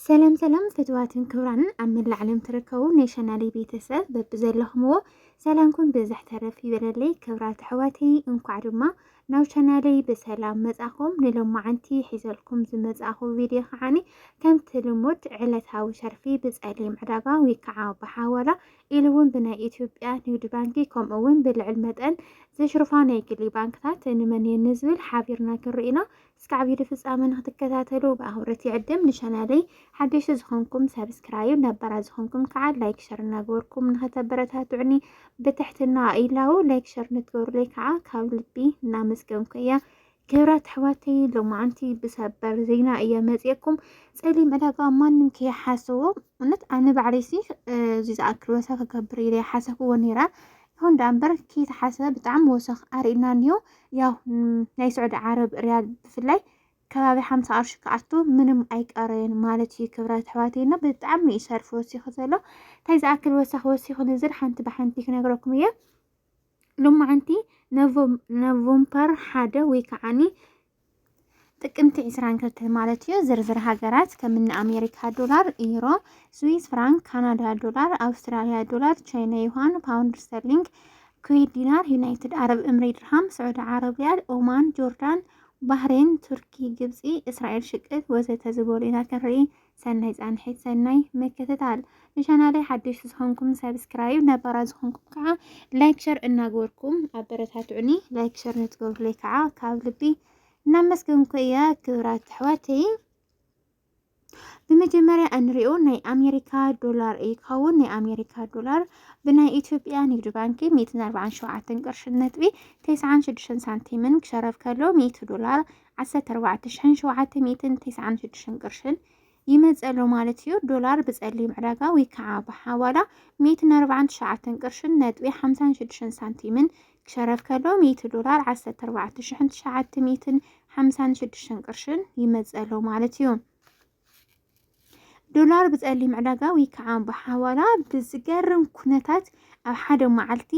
ሰላም ሰላም ፍትዋትን ክብራንን ኣብ መላእ ዓለም ትርከቡ ናይ ሸናሊ ቤተሰብ በብዘለኹምዎ ሰላምኩም ብዝሕ ተረፍ ይበለለይ። ክብራት ኣሕዋተይ እንኳዕ ድማ ናብ ቻናለይ ብሰላም መጻኹም። ንሎማዓንቲ ሒዘልኩም ዝመጻኹ ቪድዮ ከዓኒ ከምቲ ልሙድ ዕለታዊ ሸርፊ ብጸሊም ዕዳጋ ወይ ከዓ ብሓዋላ ኢሉ እውን ብናይ ኢትዮጵያ ንግዲ ባንኪ ከምኡ እውን ብልዕል መጠን ዘሽርፋ ናይ ግሊ ባንክታት ንመን እየን ንዝብል ሓቢርና ክንርኢ ኢና። እስከ ዓቢዲ ፍጻመ ንክትከታተሉ ብኣኽብሮት ይዕድም። ንቻናለይ ሓደሽቲ ዝኾንኩም ሳብስክራይብ፣ ነባራት ዝኾንኩም ከዓ ላይክ ሸር እናገበርኩም ንኸተበረታትዑኒ ብትሕትና ኢላው። ላይክ ሸር ንትገብሩለይ ከዓ ካብ ልቢ እናመስገንኩ እየ። ክብራት ኣሕዋተይ ሎማዓንቲ ብሰበር ዜና እየ መፅኤኩም ፀሊም ዕዳጋ ማንም ከይሓሰቦ እውነት ኣነ ባዕለይሲ እዚ ዝኣክል ወሰ ክገብር ኢለ ሓሰብዎ ነይረ ይኹን ደኣ እምበር ከይተሓሰበ ብጣዕሚ ወሰኽ ኣርእዩና እኒሆ። ያው ናይ ስዑዲ ዓረብ ሪያል ብፍላይ ከባቢ ሓምሳ ቅርሺ ክኣቱ ምንም ኣይቀረየን ማለት እዩ። ክብራት ኣሕዋተይና ብጣዕሚ እዩ ሰርፊ ወሲኹ ዘሎ። እንታይ ዝኣክል ወሰኽ ወሲኹ ንዝል ሓንቲ ብሓንቲ ክነግረኩም እየ። ሎማዓንቲ ነቮምፐር ሓደ ወይ ከዓኒ ጥቅምቲ ዕስራን ክልተን ማለት እዩ ዝርዝር ሃገራት ከምኒ ኣሜሪካ ዶላር፣ ዩሮ፣ ስዊስ ፍራንክ፣ ካናዳ ዶላር፣ ኣውስትራሊያ ዶላር፣ ቻይና ዩሃን፣ ፓውንድ ስተርሊንግ፣ ኩዌት ዲናር፣ ዩናይትድ ዓረብ እምሪ ድርሃም፣ ስዑዲ ዓረብ ሪያል፣ ኦማን፣ ጆርዳን፣ ባህሬን፣ ቱርኪ፣ ግብፂ፣ እስራኤል ሽቅል ወዘተ ዝበሉ ኢና ክንርኢ ሰናይ ፃንሒት ሰናይ ምክትታል። ንቻናለይ ሓደሽቲ ዝኾንኩም ሰብስክራይብ፣ ነባራት ዝኾንኩም ከዓ ላይክ ሸር እናገበርኩም ኣበረታትዑኒ። ላይክ ሸር ንትገብሩለይ ከዓ ካብ ልቢ እናመስገንኩ እየ ክብራት ኣሕዋተይ። ብመጀመርያ እንሪኦ ናይ ኣሜሪካ ዶላር እዩ ክኸውን። ናይ ኣሜሪካ ዶላር ብናይ ኢትዮጵያ ንግዲ ባንኪ 147 ቅርሽን ነጥቢ 96 ሳንቲምን ክሸረፍ ከሎ 100 ዶላር ዓሰርተ ኣርባዕተ ሽሕን ሸውዓተ ሚእትን ቴስዓን ሽዱሽተን ቅርሽን ይመጽእ ኣሎ ማለት እዩ። ዶላር ብጸሊም ዕዳጋ ወይ ከዓ ብሓዋላ ሚእትን ኣርባዓን ትሽዓተን ቅርሽን ነጥቢ ሓምሳን ሽዱሽተን ሳንቲምን ክሸረፍ ከሎ ሚእቲ ዶላር ዓሰርተ ኣርባዕተ ሽሕን ትሽዓተ ሚእትን ሓምሳን ሽዱሽተን ቅርሽን ይመጽእ ኣሎ ማለት እዩ። ዶላር ብፀሊም ዕዳጋ ወይ ከዓ ብሓዋላ ብዝገርም ኩነታት ኣብ ሓደ መዓልቲ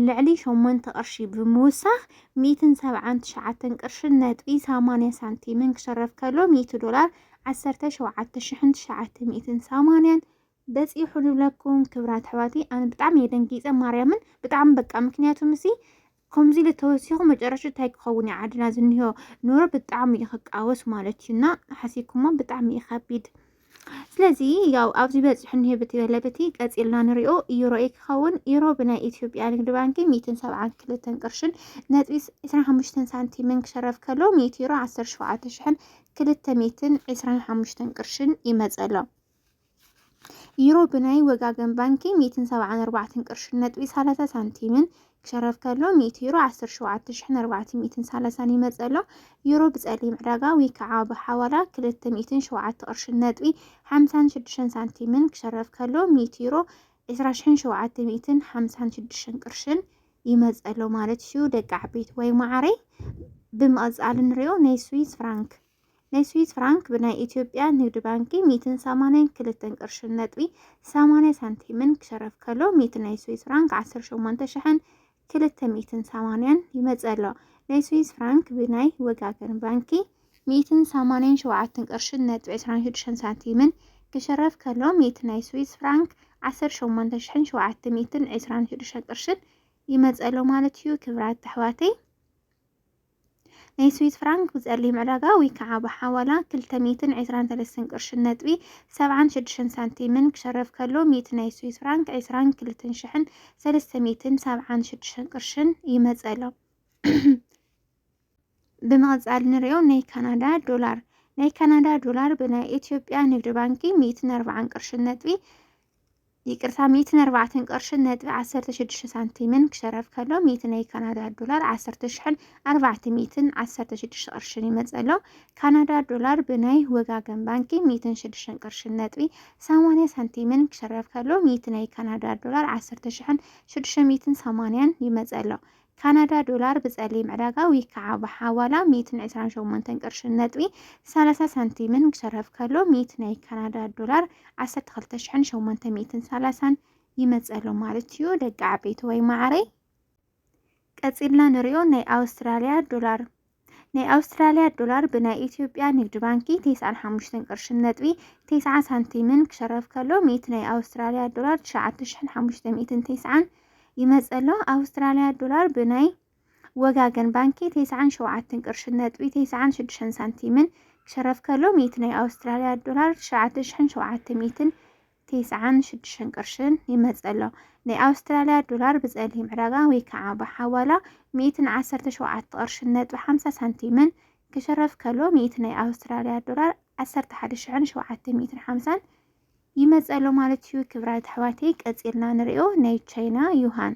ልዕሊ ሸሞንተ ቅርሺ ብምውሳኽ ሚእትን ሰብዓን ትሽዓተን ቅርሽን ነጥቢ ሰማንያ ሳንቲምን ክሸረፍ ከሎ ሚእቲ ዶላር ዓሰርተ ሸውዓተ ሽሕን ትሽዓተ ሚእትን ሰማንያን በፂሑ ንብለኩም ክብራት ኣሕዋተይ ኣነ ብጣዕሚ እየ ደንጊፀ ማርያምን ብጣዕሚ በቃ ምክንያቱ ምሲ ከምዚ ኢለ ተወሲኹ መጨረሹ እንታይ ክኸውን እዩ ዓድና ዝኒሆ ኑሮ ብጣዕሚ እዩ ክቃወስ ማለት እዩ እና ሓሲብኩሞ ብጣዕሚ እዩ ከቢድ ስለዚ ያው ኣብዚ በፂሑ እኒሄ ብቲ በለብቲ ቀፂልና ንሪኦ ዩሮ እዩ ክኸውን ዩሮ ብናይ ኢትዮጵያ ንግዲ ባንኪ ሚእትን ሰብዓን ክልተን ቅርሽን ነጥቢ ዕስራን ሓሙሽተን ሳንቲምን ክሸረፍ ከሎ ሚእቲ ዩሮ ዓሰርተ ሸውዓተ ሽሕን ክልተ ሚእትን ዕስራን ሓሙሽተን ቅርሽን ይመፀ ኣሎ ዩሮ ብናይ ወጋገን ባንኪ ሚእትን ሰብዓን ኣርባዕተን ቅርሽን ነጥቢ ሰላሳ ሳንቲምን ክሸረፍ ከሎ ሚእቲ ዩሮ ዓሰርተ ሸውዓተ ሽሕን ኣርባዕተ ሚእትን ሰላሳን ይመጽእ ኣሎ። ዩሮ ብጸሊም ዕዳጋ ወይ ከዓ ብሓዋላ ክልተ ሚእትን ሸውዓተ ቅርሽን ነጥቢ ሓምሳን ሽዱሽተን ሳንቲምን ክሸረፍ ከሎ ሚእቲ ዩሮ ዕስራ ሽሕን ሸውዓተ ሚእትን ሓምሳን ሽዱሽተን ቅርሽን ይመጽእ ኣሎ ማለት እዩ። ደቂ ዓበይቲ ወይ ማዓረይ ብምቕጻል ንሪኦ ናይ ስዊስ ፍራንክ ናይ ስዊስ ፍራንክ ብናይ ኢትዮጵያ ንግድ ባንኪ ሚትን ሰማንያን ክልተን ቅርሽን ነጥቢ ሰማንያ ሳንቲምን ክሸረፍ ከሎ ሚት ናይ ስዊስ ፍራንክ ዓሰርተ ሸሞንተ ሽሕን ክልተ ሚትን ሰማንያን ይመፅእ ኣሎ። ናይ ስዊስ ፍራንክ ብናይ ወጋገን ባንኪ ሚትን ሰማንያን ሸውዓትን ቅርሽን ነጥቢ ዕስራን ሽዱሽተን ሳንቲምን ክሸረፍ ከሎ ሚት ናይ ስዊስ ፍራንክ ዓሰርተ ሸሞንተ ሽሕን ሸውዓተ ሚትን ዕስራን ሽዱሽተን ቅርሽን ይመፅእ ኣሎ ማለት እዩ። ክብራት ኣሕዋተይ ናይ ስዊዝ ፍራንክ ብጸሊም ዕዳጋ ወይ ከዓ ብሓዋላ ክልተ ሚእትን ዕስራን ሰለስተን ቅርሽን ነጥቢ ሰብዓን ሽዱሽተን ሳንቲምን ክሸረፍ ከሎ ሚእቲ ናይ ስዊዝ ፍራንክ ዕስራን ክልተን ሽሕን ሰለስተ ሚእትን ሰብዓን ሽዱሽተን ቅርሽን ይመጸሎ። ብምቕጻል ንሪኦ ናይ ካናዳ ዶላር ናይ ካናዳ ዶላር ብናይ ኢትዮጵያ ንግድ ባንኪ ሚእትን ኣርባዓን ቅርሽን ነጥቢ ይቅርታ ሚእትን ኣርባዕተን ቅርሽን ነጥቢ ዓሰርተ ሽዱሽተ ሳንቲምን ክሸረፍ ከሎ ሚእቲ ናይ ካናዳ ዶላር ዓሰርተ ሽሕን ኣርባዕተ ሚእትን ዓሰርተ ሽዱሽተ ቅርሽን ይመፅ ኣሎ። ካናዳ ዶላር ብናይ ወጋገን ባንኪ ሚእትን ሽዱሽተን ቅርሽን ነጥቢ ሰማንያ ሳንቲምን ክሸረፍ ከሎ ሚእቲ ናይ ካናዳ ዶላር ዓሰርተ ሽሕን ሽዱሽተ ሚእትን ሰማንያን ይመፅ ኣሎ። ካናዳ ዶላር ብጸሊም ዕዳጋ ዊክ ክዓ ብሓዋላ ሚእትን ዕስራን ሸሞንተን ቅርሽን ነጥቢ ሰላሳ ሳንቲምን ክሸርፍ ከሎ ሚእቲ ናይ ካናዳ ዶላር ዓሰርተ ክልተ ሽሕን ሸሞንተ ሚእትን ሰላሳን ይመጽእ ኣሎ ማለት እዩ ደቂ ዓበይቲ ወይ ማዓረይ ቀጺልና ንሪኦ ናይ ኣውስትራልያ ዶላር ናይ ኣውስትራልያ ዶላር ብናይ ኢትዮጵያ ንግድ ባንኪ ቴስዓን ሓሙሽተን ቅርሽን ነጥቢ ቴስዓ ሳንቲምን ክሸረፍ ከሎ ሚእቲ ናይ ኣውስትራልያ ዶላር ትሽዓተ ሽሕን ሓሙሽተ ሚእትን ቴስዓን ይመጸሎ ኣውስትራልያ ዶላር ብናይ ወጋገን ባንኪ ቴስዓን ሸውዓትን ቅርሽን ነጥቢ ቴስዓን ሽዱሽተን ሳንቲምን ክሸረፍ ከሎ ሚእቲ ናይ ኣውስትራልያ ዶላር ትሽዓተ ሽሕን ሸውዓተ ሚእትን ቴስዓን ሽዱሽተን ቅርሽን ይመጽእ ኣሎ። ናይ ኣውስትራልያ ዶላር ብጸሊም ዕዳጋ ወይ ከኣ ብሓዋላ ሚእትን ዓሰርተ ሸውዓተ ቅርሽን ነጥቢ ሓምሳ ሳንቲምን ክሽረፍ ከሎ ሚእቲ ናይ ኣውስትራልያ ዶላር ዓሰርተ ሓደ ሽሕን ሸውዓተ ሚእትን ሓምሳን ይመጸሎ ማለት እዩ። ክብራት ኣሕዋተይ ቀጺልና ንሪኦ ናይ ቻይና ዩሃን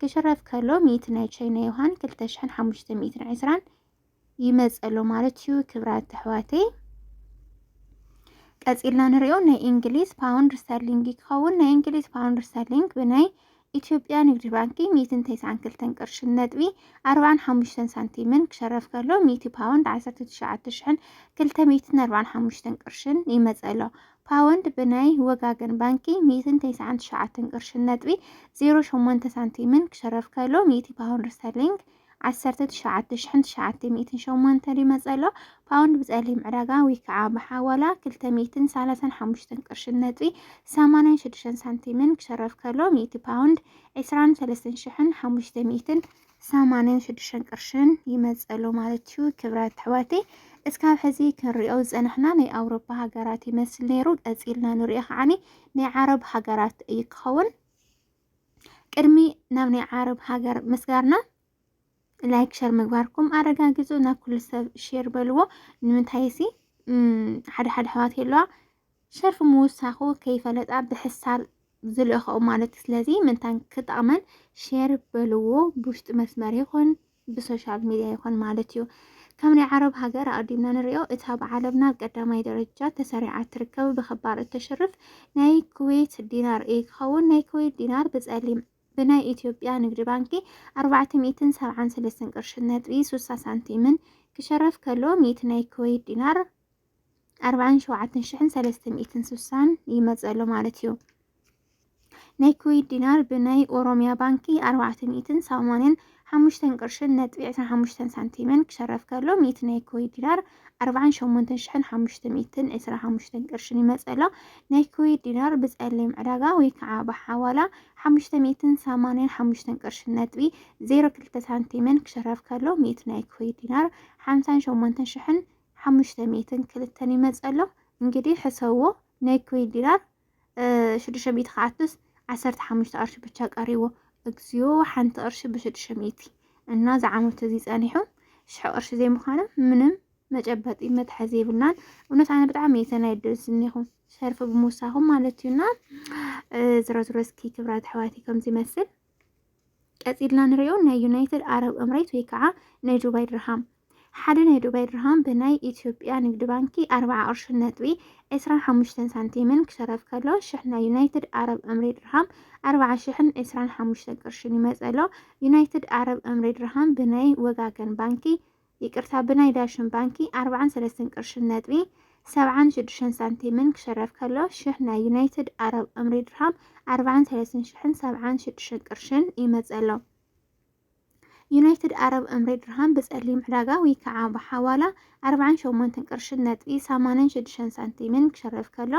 ክሽረፍ ከሎ ሚእቲ ናይ ቻይና ዮሃን ክልተ ሽሕን ሓሙሽተ ሚእትን ዕስራን ይመፀሎ ማለት እዩ ክብራት ኣሕዋተይ ቀፂልና ንሪኦ ናይ እንግሊዝ ፓውንድ ስተርሊንግ ክኸውን ናይ እንግሊዝ ፓውንድ ስተርሊንግ ብናይ ኢትዮጵያ ንግድ ባንኪ ሚእትን ተስዓን ክልተን ቅርሽን ነጥቢ ኣርባን ሓሙሽተን ሳንቲምን ክሸረፍ ከሎ ሚእቲ ፓውንድ ዓሰርተ ትሽዓተ ሽሕን ክልተ ሚእትን ኣርባን ሓሙሽተን ቅርሽን ይመፀሎ ፓወንድ ብናይ ወጋገን ባንኪ ሚእትን ተስዓን ትሽዓተን ቅርሽን ነጥቢ ዜሮ ሸሞንተ ሳንቲምን ክሽረፍ ከሎ ሚእቲ ፓውንድ ስተርሊንግ ዓሰርተ ትሽዓተ ሽሕን ትሽዓተ ሚእትን ሸሞንተን ይመጽእ ኣሎ። ፓውንድ ብጸሊም ዕዳጋ ወይ ከዓ ብሓዋላ ክልተ ሚእትን ሰላሳን ሓሙሽተን ቅርሽን ነጥቢ ሰማንያን ሽዱሽተን ሳንቲምን ክሽረፍ ከሎ ሚእቲ ፓውንድ ዕስራን ሰለስተን ሽሕን ሓሙሽተ ሚእትን ሰማንያን ሽዱሽተን ቅርሽን ይመፀሉ ማለት እዩ። ክብራት ኣሕዋተይ እስካብ ሕዚ ክንሪኦ ዝፀናሕና ናይ ኣውሮፓ ሃገራት ይመስል ነይሩ። ቀፂልና ንሪኦ ከዓኒ ናይ ዓረብ ሃገራት እዩ ክኸውን። ቅድሚ ናብ ናይ ዓረብ ሃገር ምስጋርና ላይክ ሸር ምግባርኩም ኣረጋግፁ። ናብ ኩሉ ሰብ ሼር በልዎ። ንምንታይ ሲ ሓደ ሓደ ኣሕዋት የለዋ ሸርፊ ምውሳኹ ከይፈለጣ ብሕሳር ዝልእኸኡ ማለት ስለዚ ምንታን ክጠቕመን ሼር በልዎ ብውሽጢ መስመር ይኹን ብሶሻል ሚዲያ ይኹን ማለት እዩ። ከም ናይ ዓረብ ሃገር ኣዲምና ንሪኦ እታ ብዓለምና ኣብ ቀዳማይ ደረጃ ተሰሪዓ እትርከብ ብኽባር እተሽርፍ ናይ ኩዌት ዲናር እዩ ክኸውን ናይ ኩዌት ዲናር ብጸሊም ብናይ ኢትዮጵያ ንግዲ ባንኪ 473 ቅርሺ ነጥቢ 60 ሳንቲምን ክሸረፍ ከሎ ሚእቲ ናይ ኩዌት ዲናር ኣርባዓን ሸውዓተን ሽሕን ሰለስተ ሚእትን ስሳን ይመጽእ ኣሎ ማለት እዩ። ናይ ኩዌት ዲናር ብናይ ኦሮሚያ ባንኪ ኣርባዕተ ሚእትን ሰማንያን ሓሙሽተን ቅርሽን ነጥቢ ዕስራን ሓሙሽተን ሳንቲምን ክሸረፍ ከሎ ሚእቲ ናይ ኩዌት ዲናር ኣርባዓን ሸሞንተን ሽሕን ሓሙሽተ ሚእትን ዕስራ ሓሙሽተን ቅርሽን ይመጽእ ኣሎ። ናይ ኩዌት ዲናር ብጸሊም ዕዳጋ ወይ ከዓ ብሓዋላ ሓሙሽተ ሚእትን ሰማንያን ሓሙሽተን ቅርሽን ነጥቢ ዜሮ ክልተ ሳንቲምን ክሸረፍ ከሎ ሚእቲ ናይ ኩዌት ዲናር ሓምሳን ሸሞንተን ሽሕን ሓሙሽተ ሚእትን ክልተን ይመጽእ ኣሎ እንግዲህ ሕሰብዎ ናይ ኩዌት ዲናር ሽዱሽተ ሚእቲ ክኣቱስ ዓሰርተ ሓሙሽተ ቅርሺ ብቻ ቀሪዎ እግዚኦ ሓንቲ ቅርሺ ብሽዱሽተ ሚእቲ እና ዝዓመቱ እዚ ጸኒሑ ሽሕ ቅርሺ ዘይምዃኖም ምንም መጨበጢ መትሓዚ የብልናን። እውነት ኣነ ብጣዕሚ እየ ተናዲደ ዝኒኹ ሸርፊ ብምውሳኹም ማለት እዩና ዝሮ ዝሮ እስኪ ክብራት ኣሕዋተይ ከም ዝመስል ቀጺልና ንሪኦ ናይ ዩናይትድ ዓረብ እምሬት ወይ ከዓ ናይ ዱባይ ድርሃም ሓደ ናይ ዱባይ ድርሃም ብናይ ኢትዮጵያ ንግዲ ባንኪ ኣርብዓ ቅርሽን ነጥቢ ዕስራን ሓሙሽተን ሳንቲምን ክሸረፍ ከሎ ሽሕ ናይ ዩናይትድ ዓረብ እምሬት ድርሃም ኣርብዓ ሽሕን ዕስራን ሓሙሽተን ቅርሽን ይመፀሎ ዩናይትድ ዓረብ እምሬት ድርሃም ብናይ ወጋገን ባንኪ ይቅርታ ብናይ ዳሽን ባንኪ ኣርብዓን ሰለስተን ቅርሽን ነጥቢ ሰብዓን ሽዱሽተን ሳንቲምን ክሽረፍ ከሎ ሽሕ ናይ ዩናይትድ ኣረብ እምሪ ድርሃም ኣርብዓን ሰለስትን ሽሕን ሰብዓን ሽዱሽተን ቅርሽን ይመጽእ ኣሎ። ዩናይትድ ኣረብ እምሪ ድርሃም ብጸሊም ዕዳጋ ወይ ከዓ ብሓዋላ ኣርብዓን ሸሞንተን ቅርሽን ነጥቢ ሰማንያን ሽዱሽተን ሳንቲምን ክሽረፍ ከሎ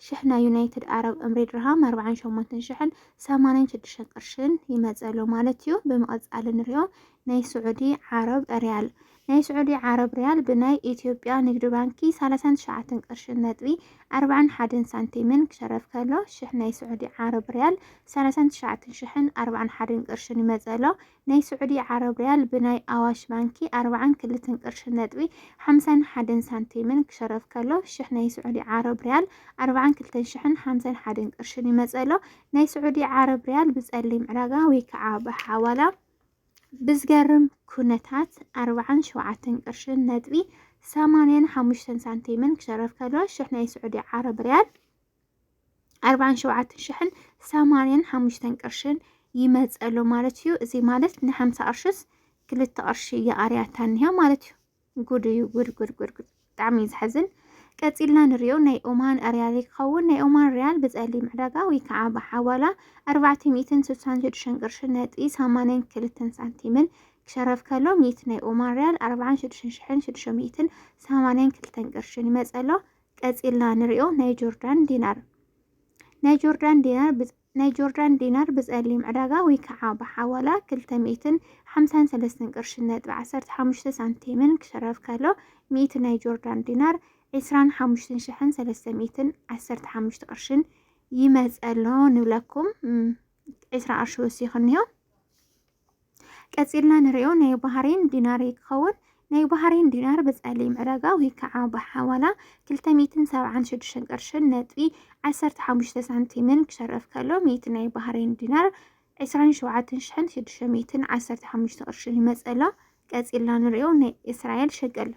ሽሕ ናይ ዩናይትድ ኣረብ እምሪ ድርሃም ኣርብዓን ሸሞንተን ሽሕን ሰማንያን ሽዱሽተን ቅርሽን ይመጽእ ኣሎ ማለት እዩ። ብምቕጻል ንሪኦ ናይ ስዑዲ ዓረብ ሪያል ናይ ስዑዲ ዓረብ ሪያል ብናይ ኢትዮጵያ ንግድ ባንኪ ሳላሳን ትሽዓተን ቅርሽን ነጥቢ ኣርባዕን ሓደን ሳንቲምን ክሸረፍ ከሎ ሽሕ ናይ ስዑዲ ዓረብ ሪያል ሳላሳን ትሽዓተን ሽሕን ኣርባዕን ሓደን ቅርሽን ይመጽእ ኣሎ። ናይ ስዑዲ ዓረብ ሪያል ብናይ ኣዋሽ ባንኪ ኣርባዓን ክልተን ቅርሽን ነጥቢ ሓምሳን ሓደን ሳንቲምን ክሸረፍ ከሎ ሽሕ ናይ ስዑዲ ዓረብ ሪያል ኣርባዓን ክልተን ሽሕን ሓምሳን ሓደን ቅርሽን ይመጽእ ኣሎ። ናይ ስዑዲ ዓረብ ሪያል ብጸሊም ዕዳጋ ወይ ከዓ ብሓዋላ ብዝገርም ኩነታት ኣርብዓን ሸውዓተን ቅርሽን ነጥቢ ሰማንያን ሓሙሽተን ሳንቲምን ክሸረፍ ከሎ ሽሕ ናይ ስዑዲ ዓረብ ሪያል ኣርብዓን ሸውዓተን ሽሕን ሰማንያን ሓሙሽተን ቅርሽን ይመፀሎ ማለት እዩ። እዚ ማለት ንሓምሳ ቅርሽስ ክልተ ቅርሺ ይቐርያታ እኒሃ ማለት እዩ። ጉድ እዩ ጉድ ጉድ ጉድ ጉድ ብጣዕሚ እዩ ዝሓዝን። ቀፂልና ንሪኦ ናይ ኦማን ሪያል ክኸውን ናይ ኦማን ሪያል ብፀሊም ዕዳጋ ወይ ከዓ ብሓዋላ 466 ቅርሺ ነጥቢ 82 ሳንቲምን ክሸረፍ ከሎ ሚት ናይ ኦማን ሪያል 46682 ቅርሽን ይመፀ ኣሎ። ቀፂልና ንሪኦ ናይ ጆርዳን ዲናር ናይ ጆርዳን ዲናር ናይ ጆርዳን ዲናር ብጸሊም ዕዳጋ ወይ ከኣ ብሓዋላ ክልተ ሚእትን ሓምሳን ሰለስተን ቅርሽን ነጥቢ ዓሰርተ ሓሙሽተ ሳንቲምን ክሽረፍ ከሎ፣ ሚእቲ ናይ ጆርዳን ዲናር ዕስራን ሓሙሽትን ሽሕን ሰለስተ ሚእትን ዓሰርተ ሓሙሽተ ቅርሽን ይመጸ ኣሎ ንብለኩም። ዕስራ ቅርሺ ወሲኹ እኒሆ። ቀጺልና ንሪኦ ናይ ባህሬን ዲናር ክኸውን ናይ ባህሬን ዲናር ብጸሊም ዕዳጋ ወይ ከዓ ብሓዋላ 276 ቅርሽን ነጥቢ 15 ሳንቲምን ክሸረፍ ከሎ ሚእቲ ናይ ባህሬን ዲናር 27615 ቅርሽን ይመጸሎ። ቀጺልና ንሪኦ ናይ እስራኤል ሸቅል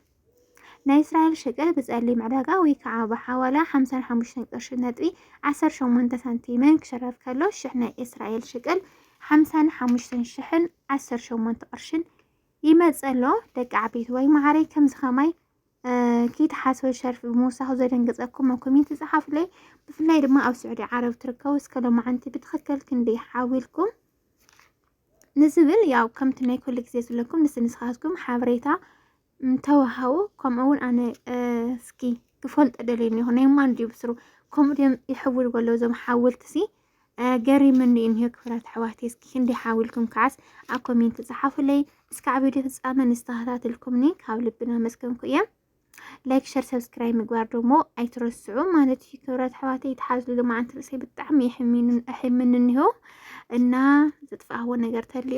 ናይ እስራኤል ሸቀል ብጸሊም ዕዳጋ ወይ ከዓ ብሓዋላ ሓምሳን ሓሙሽተን ቅርሺ ነጥቢ ዓሰርተ ሸሞንተ ሳንቲምን ክሽረፍ ከሎ ሽሕ ናይ እስራኤል ሸቀል ሓምሳን ሓሙሽተን ሽሕን ዓሰርተ ሸሞንተ ቅርሽን ይመጽእ ኣሎ። ደቂ ዓበይቲ ወይ መሃረይ ከምዚ ከማይ ከይትሓስበ ሸርፊ ብምውሳኹ ዘደንገጸኩም ኣብ ኮሜንት ጸሓፉለይ። ብፍላይ ድማ ኣብ ስዑዲ ዓረብ ትርከቡ እስከ ሎማዓንቲ ብትኽክል ክንደይ ሓዊልኩም ንዝብል ያው ከምቲ ናይ ኩሉ ግዜ ዝብለኩም ንስ ንስኻትኩም ሓበሬታ ተዋሃቡ ከምኡ እውን ኣነ እስኪ ክፈልጦ ደልየ እኒኹ ናይ ማን ድዩ ብስሩ ከምኡ ድዮም ይሕውልዎ ኣለዉ እዞም ሓወልቲ ሲ ገሪምኒ እኒሆ ክፍላት ኣሕዋተይ እስኪ ክንደይ ሓዊልኩም ከዓስ ኣብ ኮሜንት ፀሓፉለይ እስካዕ ቪድዮ ፍፃመ ንዝተኸታተልኩምኒ ካብ ልብና መስገንኩ እየ ላይክ ሸር ሰብስክራይብ ምግባር ደሞ ኣይትረስዑ ማለት እዩ። ክብረት ኣሕዋተ ይትሓዝሉ መዓንቲ ርእሰይ ብጣዕሚ ይሕምንን እኒሆ እና ዘጥፍኣዎ ነገር ተልዩ